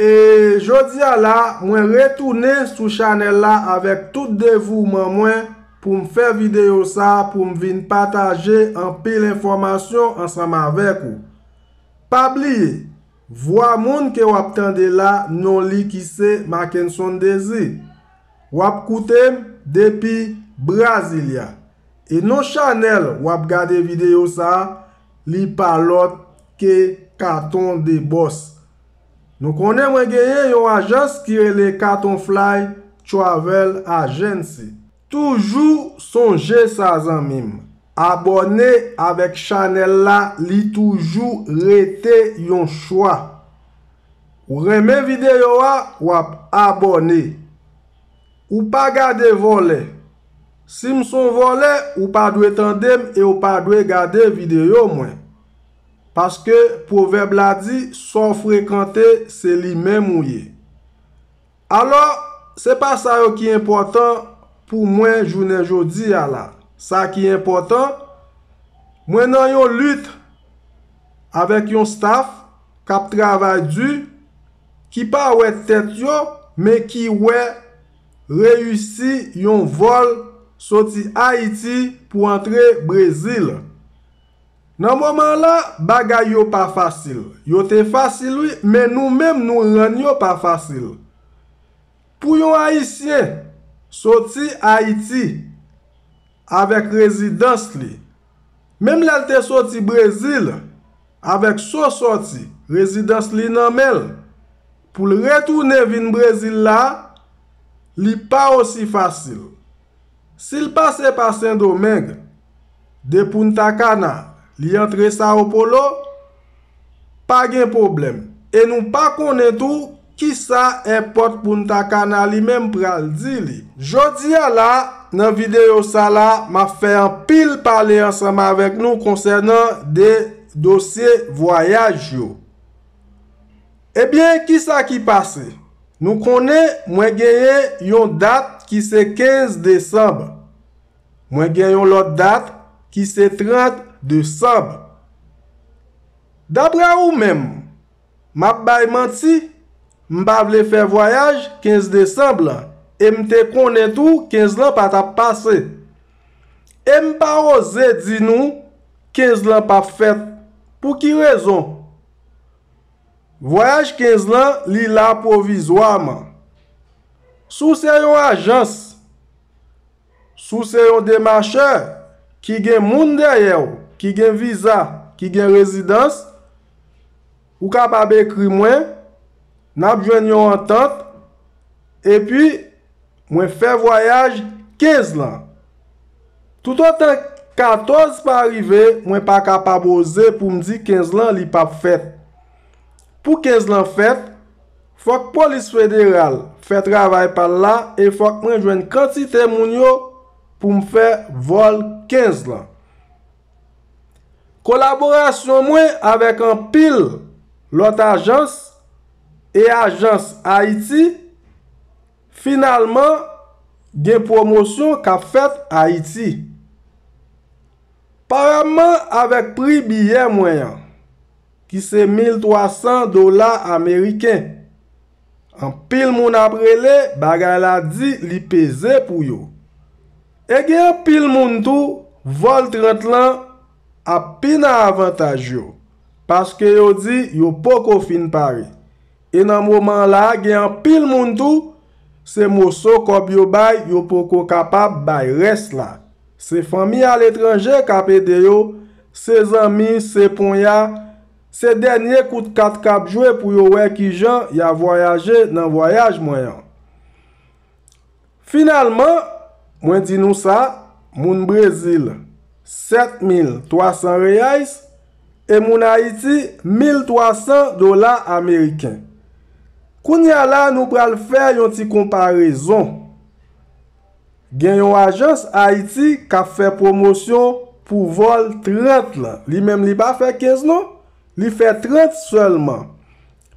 E jodia la mwen retounen sou chanèl la avèk tout devouman mwen poum fè videyo sa poum vin pataje anpil enfòmasyon ansanm avèk ou pa bliye Vwa moun ke wap tande la non li ki se Mackenson Désir. Wap koute m depi Brasilia. E non chanèl wap gade videyo sa li pa lòt ke Katon de Bòs. Nou konnen mwen genyen yon ajans ki rele Katon Fly Travel Agency. Toujou sonje sa zanmim. Abòne avèk chanèl la li toujou rete yon chwa. Ou renmen videyo a wap abòne. Ou pa gade vòlè. Sim son vòlè ou pa dwe tandem e ou pa dwe gade videyo mwen. Paske pwovèb la di sa w frekante se li menm ou ye. Alò, se pa sa yo ki enpòtan pou mwen jounen jodi a la. Sa ki enpòtan, mwen nan yon lit avèk yon staf k ap travay di, ki pa wè tèt yo men ki wè reyisi yon vòl soti Ayiti pou antre Brezil. Nan moman la, bagay yo pa fasil. Yo te fasil wi, men nou menm nou rann yo pa fasil. Pou yon Ayisyen soti Ayiti avèk rezidans li, menm lè l te soti Brezil avèk so soti, rezidans li nan men l, pou l retounen vin Brezil la, li pa osi fasil. Si l pase pa Sendomeng, de Punta Cana, li antre Sao Paulo, pa gen pwoblèm. E nou pa konnen tou ki sa èpòt Punta Cana li menm pral di li. Jodi a la, nan videyo sa la, m ap fè anpil pale ansanm avèk nou konsènan de dosye vwayaj yo. Ebyen kisa ki pase? Nou konnen mwen genyen yon dat ki se 15 desanm. Mwen gen yon lòt dat ki se 30 desanm. Daprè ou menm, m ap bay manti? M pa vle fè vwayaj 15 desanm lan e m te konnen tou 15 lan pa t ap pase. E m pa oze di nou 15 lan p ap fèt. Pou ki rezon? Vwayaj 15 lan li la pwovizwaman. Si w se yon ajans, si w se yon demachè ki gen moun dèyè w, ki gen viza, ki gen rezidans, ou kapab ekri mwen, n ap jwenn yon antant, epi. Mwen fè vwayaj 15 lan. Toutotan 14 pa rive, mwen pa kapab oze pou m di 15 lan li pa p fèt. Pou 15 lan fèt, fòk polis federal fè travay pa l la e fòk mwen jwenn kantite moun yo pou m fè vòl 15 lan. Kolaborasyon mwen avèk anpil lòt ajans e ajans Ayiti, finalman gen pwomosyon k ap fèt Ayiti. Parapman avèk pri biyè mwen an, ki se 1300 dola ameriken, Anpil moun ap rele bagay la di li peze pou yo. E gen anpil moun tou vòl 30 lan ap pi nan avantaj yo paske yo di yo poko fin pare. E nan moman la gen anpil moun tou se moso kòb yo bay yo poko kapab bay rès la. Se fanmi aletranje k ap ede yo, se zanmi, se ponya. Se dènye kout kat kap jwe pou yo wè kijan ya vwayaje nan vwayaj mwen an. Finalman, mwen di nou sa, moun Brezil, 7,300 reais, e moun Ayiti, 1,300 dola ameriken. Kounya la nou pral fè yon ti konparezon. Gen yon ajans Ayiti kap fè pwomosyon pou vòl 30 lan. Li menm li pa fè 15 non. Li fè 30 sèlman.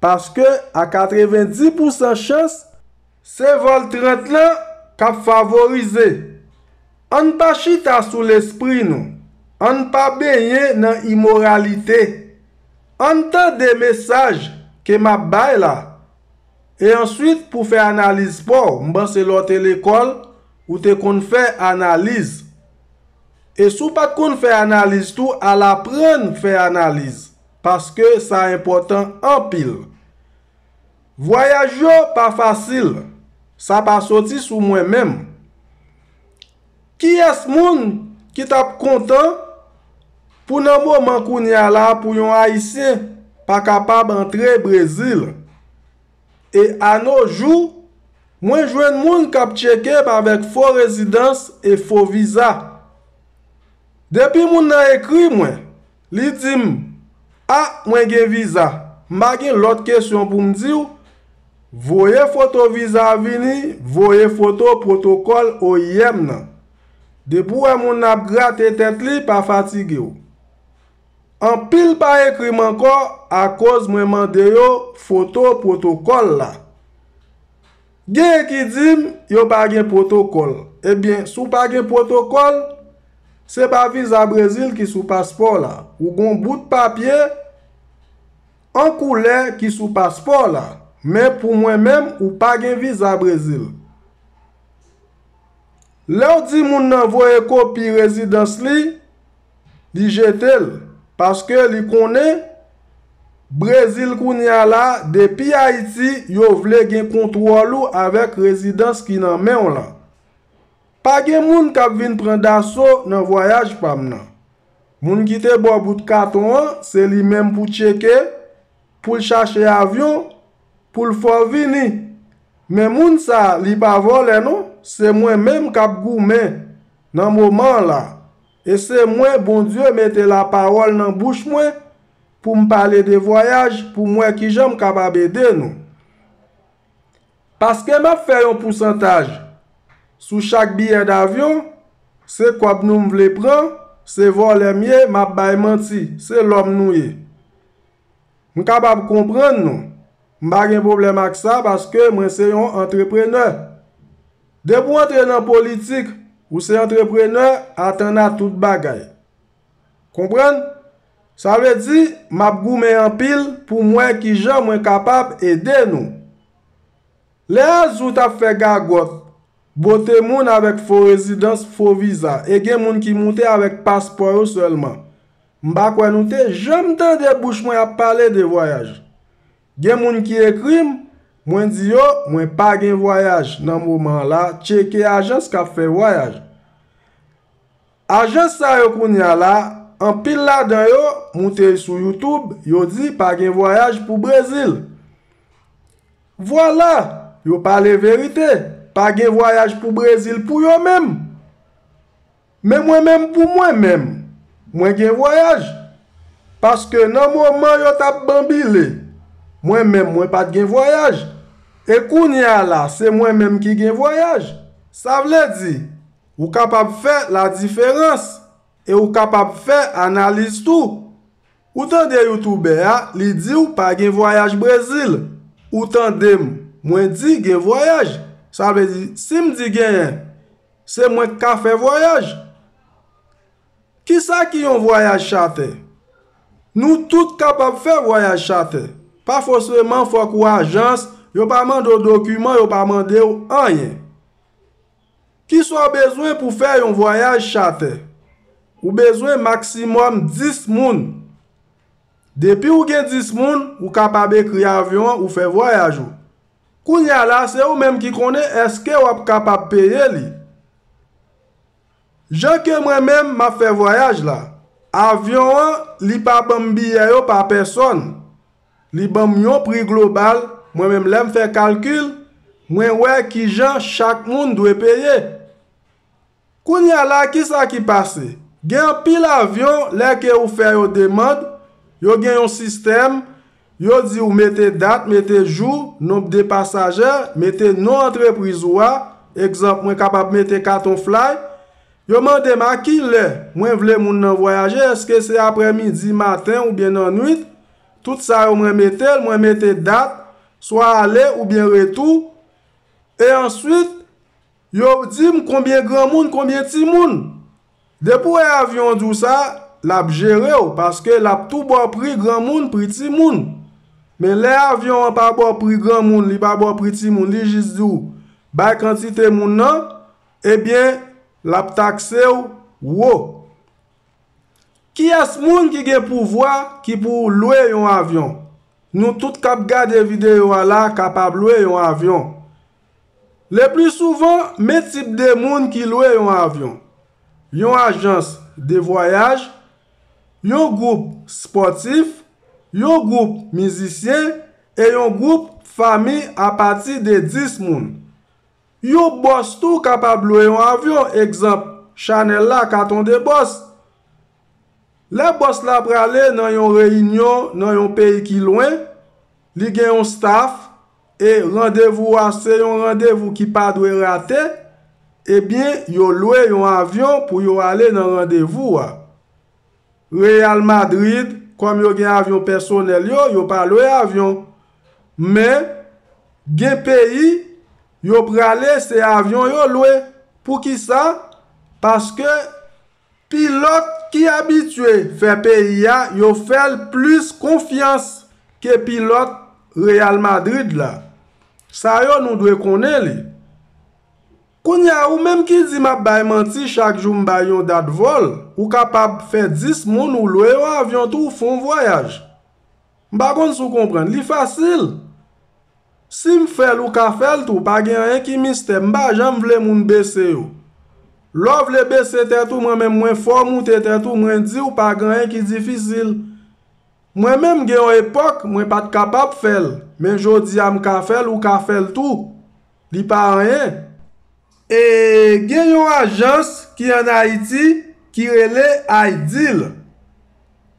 Paske a 90 pou san chans, se vòl 30 lan kap favorize Ann pa chita sou lespri nou Ann pa benyen nan imoralite Ann tande mesaj ke map bay la E answit pou fè analiz paw, m panse lè w te lekòl, ou te konn fè analiz. E si w pat konn fè analiz tou, al aprann fè analiz, paske sa enpòtan anpil. Vwayaj yo pa fasil, sa pa soti sou mwen menm. Kiyès moun ki t ap kontan pou nan moman kounye a la pou yon Ayisyen pa kapab antre Brezil? E anojou, mwen jwenn moun k ap tcheke m avèk fo rezidans e fo viza. Depi moun nan ekri mwen, Li di m, A, mwen gen viza. M pa gen lòt kesyon pou m di w, voye foto viza a vini, voye foto pwotokòl oim nan. Depi w wè moun nan ap grate tèt li, pa fatige w. Anpil pa ekri m ankò akoz mwen mande yo foto pwotokòl la. Gen ki di m yo pa gen pwotokòl. Ebyen, si w pa gen pwotokòl, se pa viza Brezil ki sou paspò w la. Ou gon bout papye an koulè ki sou paspò w la. Men pou mwen menm, ou pa gen viza Brezil. Lè w di moun nan voye kopi rezidans li, li jete l, paske li konnen Brezil kounye a la, depi Ayiti, yo vle gen kontwòl ou avèk rezidans ki nan men w lan. Pa gen moun k ap vin pran daso nan vwayaj pa m nan. Moun ki te ba w bout katon an, se li menm pou tcheke, pou l chache avyon, Poul fò vini. Men moun sa li pa vòlè non se mwen menm kap goumen nan moman an la e se mwen Bondye mete la pawòl nan bouch mwen poum pale de vwayaj poum wè kijanm kapab ede nou paske map fè yon pousantaj sou chak biyè davyon se kòb nou m vle pran se vòlè m ye map bay manti se lòm nou ye. M kapab konprann nou. M pa gen pwoblèm ak sa paske mwen se yon antreprenè. Depi w antre nan politik, ou se antreprenè atanna tout bagay. Konprann? Sa vle di, m ap goumen anpil pou m wè ki jan mwen kapab ede nou. Lè Azou t ap fè gagòt, bote moun avèk fo rezidans, fo viza e gen moun ki moute avèk paspò yo sèlman. M pa kwè nou te janm tande bouch mwen ap pale de vwayaj. Gen moun ki ekri m, mwen di yo mwen pa gen vwayaj nan moman an la tcheke ajans k ap fè vwayaj. Ajans sa yo kounye a la, anpil ladan yo moute sou YouTube yo di pa gen vwayaj pou Brezil. Vwala! Yo pale verite, pa gen vwayaj pou Brezil pou yo menm! Men mwen menm pou mwen menm, mwen gen vwayaj, paske nan moman yo t ap banbile, mwen menm mwen pa t gen vwayaj, e kounye a la se mwen menm ki gen vwayaj. Sa vle di, ou kapab fè ladiferans, e ou kapab fè analiz tou. Ou tande youtubè a, li di w pa gen vwayaj Brezil, ou tande m, mwen di gen vwayaj, sa vle di si m di genyen, Se mwen k ka fè vwayaj? Kisa ki yon vwayaj chatè? Nou tout kapab fè vwayaj chatè. Pa fosreman fòk ou ajans, yo pa mande w dokiman, yo pa mande w anyen. Kisa w bezwen pou fè yon vwayaj chatè? Ou bezwen maksimòm 10 moun. Depi ou gen 10 moun, ou kapab ekri avyon an ou fè vwayaj ou. Kounye a la se ou menm ki konnen eske wap kapab peye li. Jan ke mwen menm map fè vwayaj la, avyon an li pa banm biyè yo pa pèsòn, li banm yon pri global, mwen menm lèm fè kalkil, mwen wè kijan chak moun dwe peye. Kounya la kisa ki pase? Gen anpil avyon lè ke ou fè yo demand, yo gen yon sistèm, yo di ou mete dat, mete jou, nonb de pasajè, mete non antrepriz ou a, egzanp mwen kapab mete katon fly, yo mande m a ki lè mwen vle moun nan vwayaje eske se aprè midi, maten oubyen nan nwit, tout sa yo mwen mete l, mwen mete dat, swa ale oubyen retou, e answit. Yo dim konbyen granmoun konbyen timoun. Depi w wè avyon an di w sa, l ap jere w paske l ap tou ba w pri granmoun, pri timoun. Men lè avyon an pa ba w pri granmoun, li pa ba w pri timoun, li jis di w bay kantite moun nan, ebyen l ap takse w wo. Kiyès moun ki gen pouvwa ki pou lwe yon avyon? Nou tout k ap gade videyo a la kapab lwe yon avyon. Lepli souvan, men tip de moun ki lwe yon avyon, yon ajans de vwayaj, yon gwoup spòtif, yon gwoup mizisyen e yon gwoup fanmi apati de 10 moun. Yon bòs tou kapab lwe yon avyon, egzanp chanèl la Katon de Bòs. Lè bòs la prale nan yon reyinyon nan yon peyi ki lwen, li gen yon staf, E randevou a se yon randevou ki pa dwe rate, ebyen yo lwe yon avyon pou yo ale nan randevou a. Real Madrid, kòm yo gen avyon pèsonèl yo, yo pa lwe avyon. Men, gen peyi, yo prale se avyon yo lwe. Poukisa? Paske Pilòt ki abitye fè peyi a yo fè l plis konfyans ke pilòt Real Madrid la. Sa yo nou dwe konnen li. Kounye a ou menm ki di m ap bay manti chak jou m bay yon dat vòl, ou kapab fè 10 moun ou lwe yon avyon tou fon vwayaj. M pa konn si w konprann. Li fasil! Si m fè l ou ka fè l tou, pa gen anyen ki mistè. M pa janm vle moun bese yo. Lè w vle bese tèt ou mwen menm mwen fè w moute tèt ou mwen di w pa gen anyen ki difisil. Mwen menm gen yon epòk mwen pa t kapab fè l, men jodi a m ka fè l ou ka fè l tou. Li pa anyen. E gen yon ajans ki an Ayiti ki rele Ideal.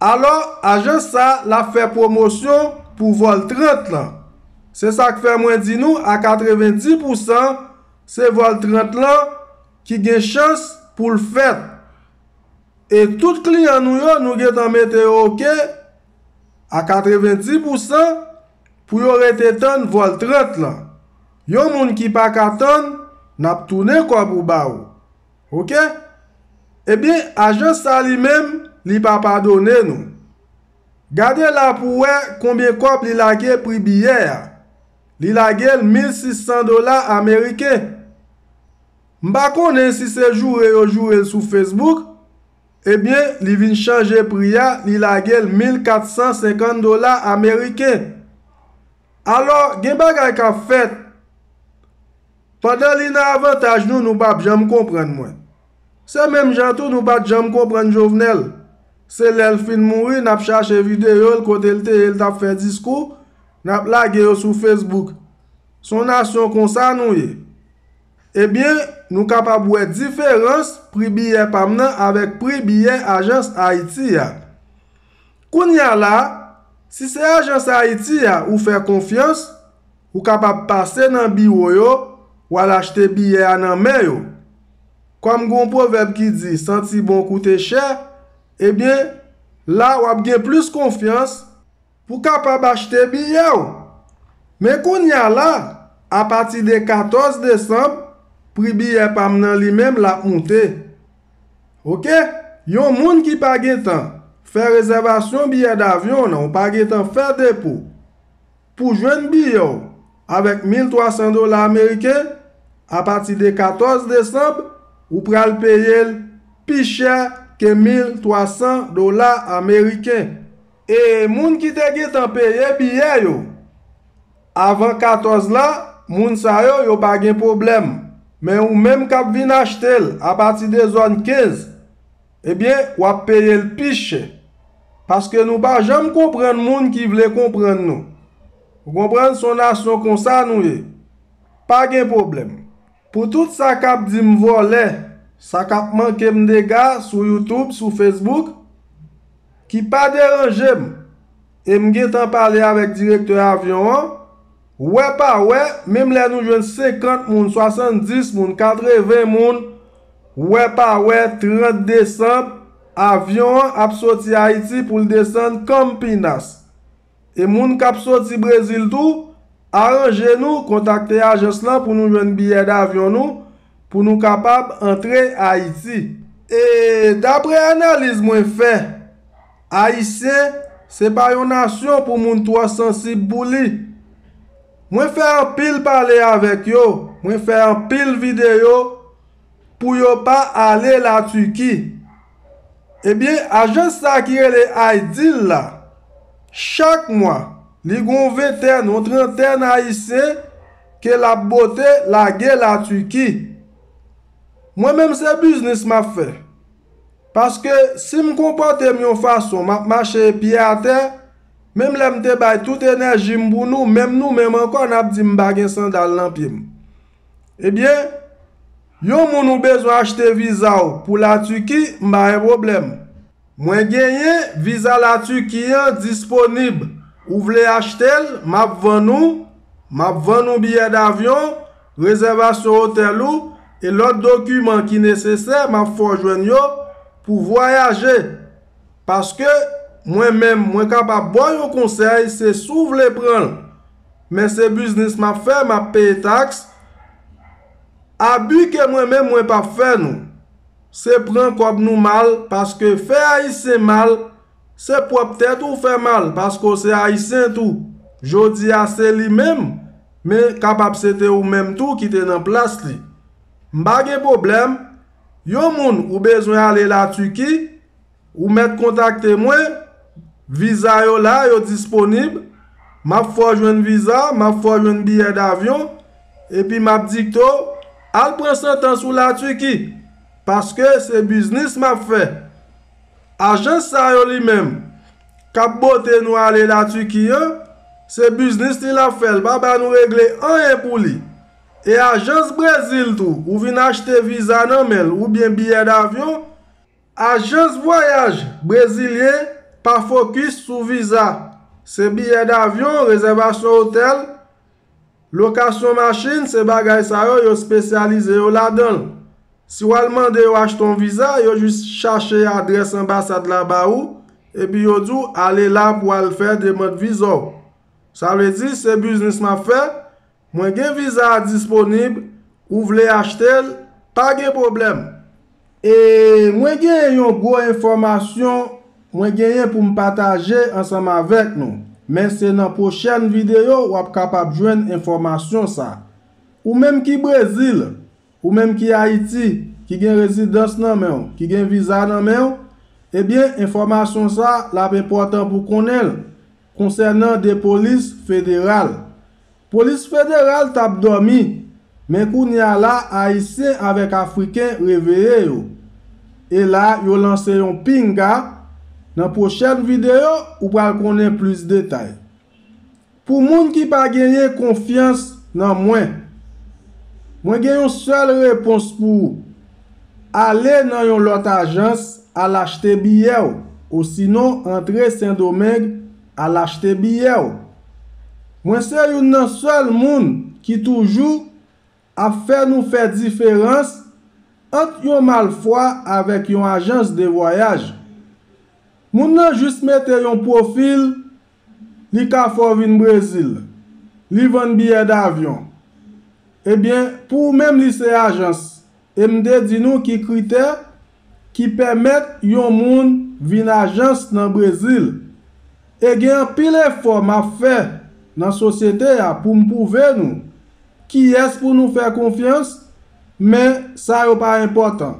Alò, ajans sa a l ap fè pwomosyon pou vòl 30 lan. Se sa k fè mwen di nou a 90 pou san se vòl 30 lan ki gen chans pou l fèt. E tout kliyan nou yo nou gentan mete yo oke a 90 pou san. pou yo rete tann vòl 30 lan yon moun ki paka tann nap tounen kòb ou ba ou ok ebyen ajans sa li menm li pa padone nou gade la pou wè konbyen kòb li lage pri biyè a li lagel 1600 dola ameriken m pa konnen si se joure yo jourel sou facebook Ebyen li vin chanje pri a li lage l 1450 dola ameriken. Alò gen bagay k ap fèt. Pandan li nan avantaj nou nou pa p janm konprann mwen. Se menm jan tou nou pa t janm konprann Jovenel. Se lè l fin mouri n ap chache videyo l kote l te ye l t ap fè diskou n ap lage yo sou Facebook. S on nasyon konsa nou ye. Ebyen, nou kapab wè diferans pri biyè pa m nan avèk pri biyè ajans Ayiti a. Kounye a la, si se ajans Ayiti a ou fè konfyans, ou kapab pase nan biwo yo, w al achte biyè a nan men yo. Kòm gen yon pwovèb ki di santi bon koute chè, ebyen, la w ap gen plis konfyans, Pou kapab achte biyè w. Men kounye a la, apati de 14 desanm, pri biyè pa m nan li menm l ap moute. Ok, yon moun ki pa gen tan fè rezèvasyon biyè davyon w nan, ou pa gen tan fè depo, pou jwenn biyè w avèk 1300 dola ameriken, apati de 14 desanm, ou pral peye l pi chè ke 1300 dola ameriken. E moun ki te gentan peye biyè yo avan 14 la, moun sa yo, yo pa gen pwoblèm. Men ou menm k ap vin achte l apati de zòn 15, ebyen w ap peye l pi chè. Paske nou pa janm konprann moun ki vle konprann nou. Ou konprann? S on nasyon konsa nou ye. Pa gen pwoblèm. Pou tout sa kap di m vòlè, sa kap manke m dega sou youtube, sou facebook, ki pa deranje m, e m gentan pale avèk direktè avyon an, wè pa wè, menm lè nou jwenn 50 moun, 70 moun, 80 moun, wè pa wè 30 desanm, avyon an ap soti Ayiti pou l desann Campinas. E moun kap soti Brezil tou, aranje nou kontakte ajans lan pou nou jwenn biyè davyon nou pou nou kapab antre Ayiti. E dapre analiz mwen fè, Ayisyen se pa yon nasyon pou moun twò sansib pou li. Mwen fè anpil pale avèk yo, mwen fè anpil videyo, pou yo pa ale la Turquie ebyen ajans sa ki rele Aidil la chak mwa li gon ventèn yon trantèn ayisyen ke lap bote lage la Turquie mwen menm se biznis map fè paske sim konpòtem yon fason map mache pye atè menm lèm te bay tout enèjim pou nou menm nou menm ankò nap dim pa gen sandal nan pyem. Ebyen Yon moun ou bezwen achte viza w pou la Turki m pa gen pwoblèm mwen genyen viza la Turki an disponib ou vle achte l map vann ou map vann ou biyè davyon rezèvasyon otèl ou e lòt dokiman ki nesesè map fè w jwenn yo pou vwayaje paske mwen menm mwen kapab baw yon konsèy se si w vle pran l Men se biznis map fè map peye tax Abi ke mwen menm mwen pap fè nou Se pran kob nou mal paske fè ayisyen mal se pwop tèt ou fè mal paske ou se ayisyen tou Jodi a se li menm men kapab se te ou menm tou ki te nan plas li M pa gen pwoblèm Yon moun ou bezwen ale la Turquie Ou mèt kontakte mwen, viza yo la, yo disponib, m ap fè w jwenn viza, m ap fè w jwenn biyè davyon, epi m ap dikte w, al pran santans ou la Turquie, paske se biznis m ap fè. Ajans sa yo li menm, k ap bote nou ale la Turquie an, se biznis li l ap fè, l pa ba nou regle anyen pou li. E ajans Brezil tou, ou vin achte viza nan men l, oubyen biyè davyon, Ajans vwayaj brezilyen pa fokis sou viza, se biyè davyon, rezèvasyon otèl, lokasyon machin, se bagay sa yo yo spesyalize yo ladan l. Si w al mande yo achte yon viza, yo jis chache adrès anbasad la ba ou, epi yo di w ale la pou w al fè demand viza w. Sa vle di, se biznis m ap fè, Mwen gen viza a disponib, ou vle achte l, pa gen pwoblèm. E mwen genyen yon gwo enfòmasyon mwen genyen pou m pataje ansanm avèk nou, men se nan pwochèn videyo w ap kapab jwenn enfòmasyon sa. Ou menm ki Brezil, ou menm ki Ayiti, ki gen rezidans nan men w, ki gen viza nan men w, ebyen enfòmasyon sa l ap enpòtan pou w konnen l, Konsènan 2 polis federal. Polis federal tap dòmi, men kounya la ayisyen avèk afriken reveye yo. E la yo lanse yon pinga, nan pwochèn videyo ou pral konnen plis detay. Pou moun ki pa genyen konfyans nan mwen. Mwen gen yon sèl repons pou ou. Ale nan yon lòt ajans al achte biyè w osinon antre Sendomeng al achte biyè w. Mwen se youn nan sèl moun ki toujou ap fè nou fè diferans ant yon malfwa avèk yon ajans de vwayaj. Moun nan jis mete yon pwofil Li ka fè w vin Brezil. Li vann biyè davyon. Ebyen, pou ou menm li se ajans. E m te di nou ki kritè ki pèmèt yon moun vin ajans nan Brezil. E gen anpil efò m ap fè nan sosyete a pou m pwouve nou kiyès pou nou fè konfyans, men sa yo pa enpòtan.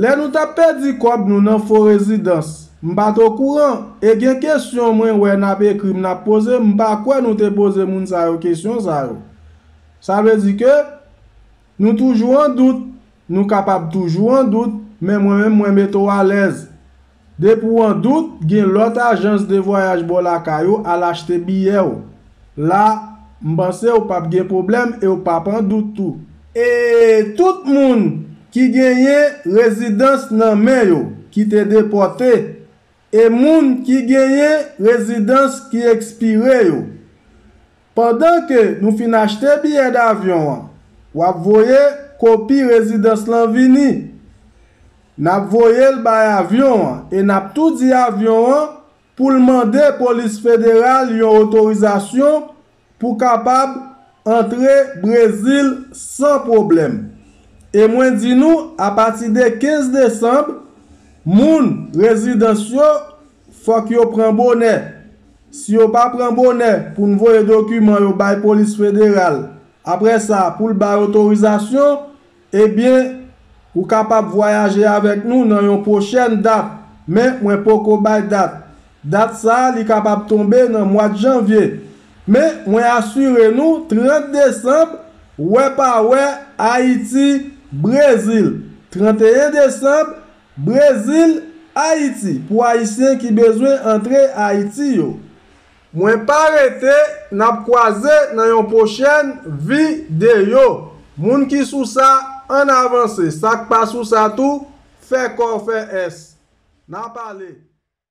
Lè nou tap pèdi kòb nou nan fo rezidans, m pat okouran, e gen kesyon mwen wè nap ekrim nap poze m pa kwè nou te poze moun sa yo kesyon sa yo. Sa vle di ke nou toujou an dout, nou kapab toujou an dout, men mwen menm mwen mete w alèz. Depi w an dout, gen lòt ajans de vwayaj bò lakay ou, al achte biyè w. La, m panse ou pap gen pwoblèm e w pap an dout tou. E tout moun ki genyen rezidans nan men yo ki te depòte e moun ki genyen rezidans ki ekspire yo? Pandan ke nou fin achte biyè davyon an, wap voye kopi rezidans lan vini. Nap voye l bay avyon an e nap tou di avyon an pou l mande polis federal yon otorizasyon pou kapab antre Brezil san pwoblèm. E mwen di nou apati de 15 desanm, moun, rezidans yo, Fòk yo pran bonè. Si yo pa pran bonè pou n voye dokiman yo bay polis federal, apre sa pou l bay otorizasyon, ebyen ou kapab vwayaje avèk nou nan yon pwochèn dat, men mwen poko bay dat. Dat sa a li kapab tonbe nan mwad janvye. Men mwen asire nou 30 desanb, wè pa wè, Ayiti, Brezil, 31 desanb, Brezil, Ayiti pou Ayisyen ki bezwen antre Ayiti yo. Mwen pa rete nap kwaze nan yon pwochèn vi deyo moun ki sou sa ann avanse sak pa sou sa tou fè kò fè ès nap ale.